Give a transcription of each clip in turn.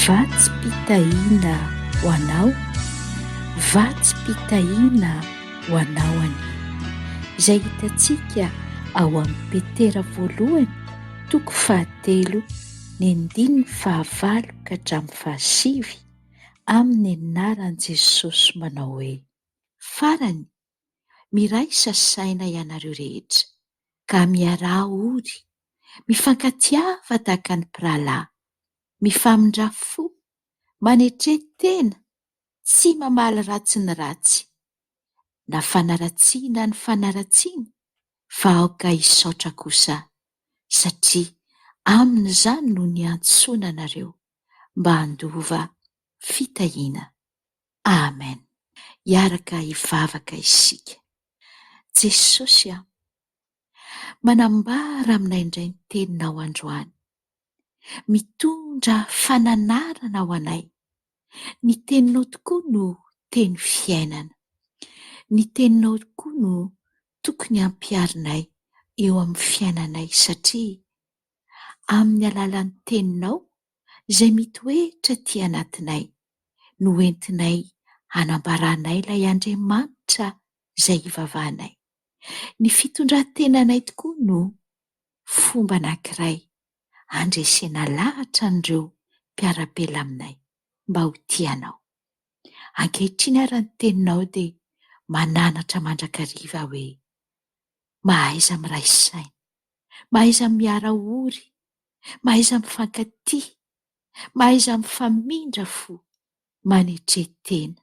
Vatsim-pitahiana ho anao, vatsim-pitahiana ho anao anie. Izay hitantsika ao amin'ny Petera voalohany toko fahatelo ny andininy fahavalo ka hatramin'ny fahasivy amin'ny anaran'i Jesosy manao hoe. Farany, Miraisa saina ianareo rehetra, ka miaraha ory, mifankatiava tahaka ny mpirahalahy, mifamindrà fo, manetrehy tena, tsy mamaly ratsy ny ratsy, na fanaratsiana ny fanaratsiana, fa aoka hisaotra kosa, satria amin'izany no niantsoana anareo mba handova fitahiana. Amen hiaraka hivavaka isika. Jesosy a. Manambara aminay indray ny teninao androany. Mitondra fananarana ho anay. Ny teninao tokoa no teny fiainana. Ny teninao tokoa no tokony ampiharinay eo amin'ny fiainanay satria amin'ny alalan'ny teninao izay mitoetra aty anatinay no entinay hanambaranay ilay Andriamanitra izay ivavahanay. Ny fitondran-tenanay tokoa no fomba anankiray handresena lahatra an'ireo mpiara-belona aminay mba ho tia anao. Ankehitriny ary ny teninao dia mananatra mandrakariva hoe, Mahaiza miray saina. Mahaiza miara-ory. Mahaiza mifankatia. Mahaiza mifamindra fo, manetre tena.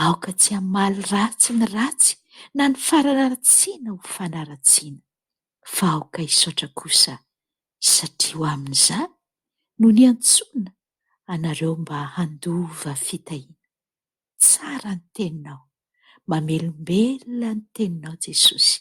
Aoka tsy hamaly ratsy ny ratsy na ny fanaratsiana ho fanaratsiana, fa aoka hisaotra kosa satria ho amin'izany no niantsoana anareo mba handova fitahiana. Tsara ny Teninao, mamelombelona ny Teninao Jesosy.